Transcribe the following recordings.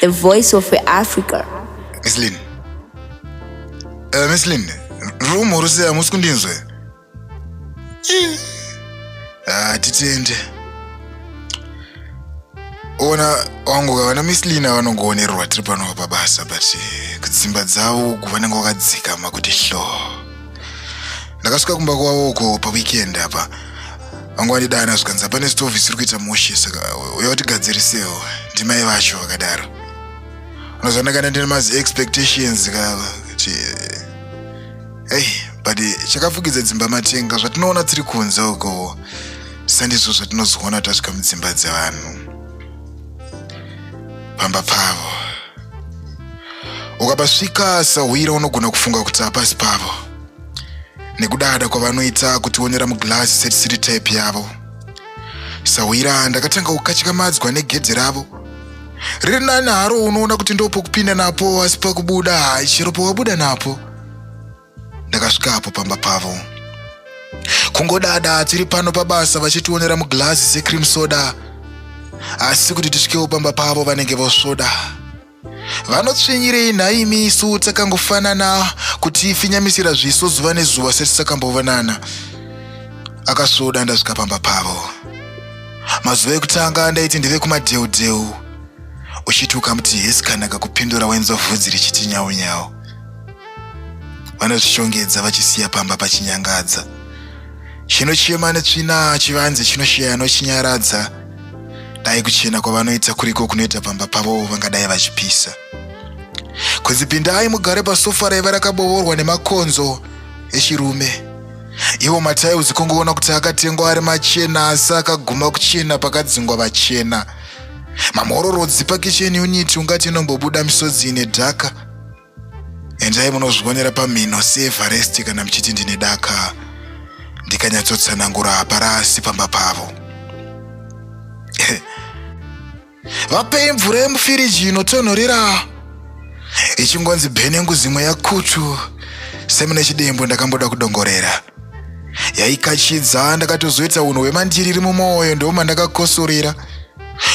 The voice of Africa. Miss Lynn. Uh, Miss Lynn, room or say amusi kundinzwe? Ah, titende. Ona wangu vana Miss Lynn vanongoonerwa tiri pano pabasa but eh, kudzimba dzavo vanenge vakadzikama kuti hloo. ndakasvika kumba kwavo uko paweekend apa vangu vandidana zvikanzi hapane stove isiri kuita mushe saka uya utigadzirisewo ndimai vacho vakadaro unozva ndakanda ndine mazi expectations ka kuti ei but chakafukidza dzimba matenga zvatinoona tiri kunze uko sandizvo zvatinozoona tasvika mudzimba dzevanhu pamba pavo ukapasvika sahwira unogona kufunga kuti hapasi pavo nekudada kwavanoita kutionera muglass setisiri type yavo sahwira ndakatanga kukatyamadzwa negedhe ravo riri nani haro unoona kuti ndopokupinda napo asi pakubuda chero pawabuda napo ndakasvika apo pamba pavo kungodada tiri pano pabasa vachitionera muglazi secream soda asi kuti tisvikewo pamba pavo vanenge vosvoda vanotsvinyirei nhaimi isu takangofanana kuti ifinyamisira zviso zuva nezuva setisakamboonana akasvoda ndasvika pamba pavo mazuva ekutanga ndaiti ndive kumadheudheu uchiti ukamuti hesi kanaka kupindura wenza vhudzi richiti nyaunyau vanozvishongedza vachisiya pamba pachinyangadza chinochema netsvina chivanze chinoshaya nochinyaradza dai kuchena kwavanoita kuriko kunoita pamba pavo vangadai vachipisa kunzi pindai mugare pasofa raiva rakabovorwa nemakonzo echirume ivo mataiuzi kungoona kuti akatengwa ari machena asi akaguma kuchena pakadzingwa vachena mamhororodzi pakicheni uniti ungati inombobuda misodzi ine dhaka endai munozvionera pamhino seevaresti kana muchiti ndine daka ndikanyatsotsanangura haparasi pamba pavo vapei mvura yemufiriji inotonhorera ichingonzi bhenengu zimwe yakutu semune chidembo ndakamboda kudongorera yaikachidza ndakatozoita unhu hwemandiri iri mumwoyo ndomandakakosorera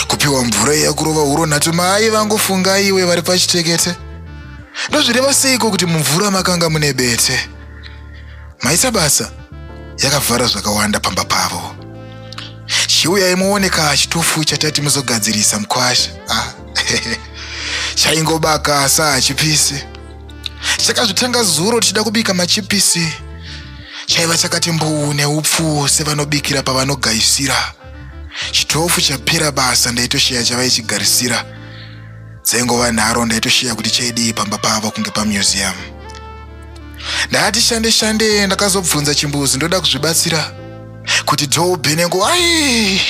kupiwa mvura iya kurova huro nhatu mai vangu funga iwe vari pachitekete ndozvireva seiko kuti mumvura makanga mune bete maisa basa yakavhara zvakawanda pamba pavo chiuyai muone kaa chitufu chatati muzogadzirisa mukwasha ah, chaingobaka asi hachipisi chakazvitanga zuro tichida kubika machipisi chaiva chakati mbuu neupfu sevanobikira pavanogaisira chitofu chapera basa ndaitosheya chavaichigarisira dzengova nharo ndaitosheya kuti chaidii pamba pavo kunge pamuseum ndati shande shande ndakazobvunza chimbuzi ndoda kuzvibatsira kuti dhoubhenengo ai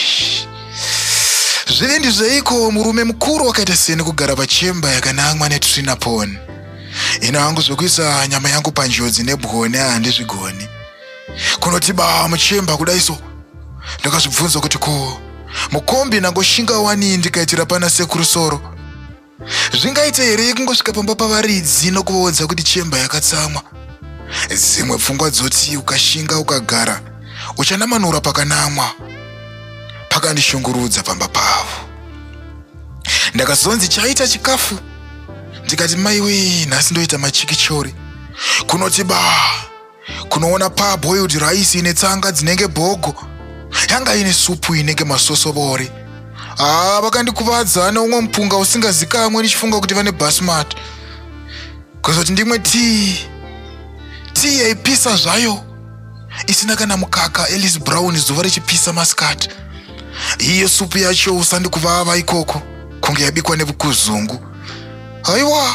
zvive ndizveiko murume mukuru wakaita seni kugara pachemba yakanangwa netrinapon ino hangu zvekuisa nyama yangu panjodzi nebwone handizvigoni kunoti baa muchemba kudai so ndakazvibvunza kuti ko mukombi nangoshinga wanii ndikaitira pana sekuru soro zvingaite here kungosvika pamba pavaridzi nokuvaudza kuti chemba yakatsamwa dzimwe pfungwa dzoti ukashinga ukagara uchanamanura pakanamwa pakandishungurudza pamba pavo ndakazonzi chaita chikafu ndikati maiwee nhasi ndoita machikichori kunoti baa kunoona pa boiled rice ine tsanga dzinenge bhogo yanga ine supu inenge masosobori haa vakandikuvadza neumwe mupunga usingazikamwe ndichifunga kuti vane basmat kuzoti ndimwe tii tii yaipisa zvayo isina kana mukaka elis brown zuva richipisa masikati iye supu yacho usandikuvava ikoko kunge yabikwa nevukuzungu haiwa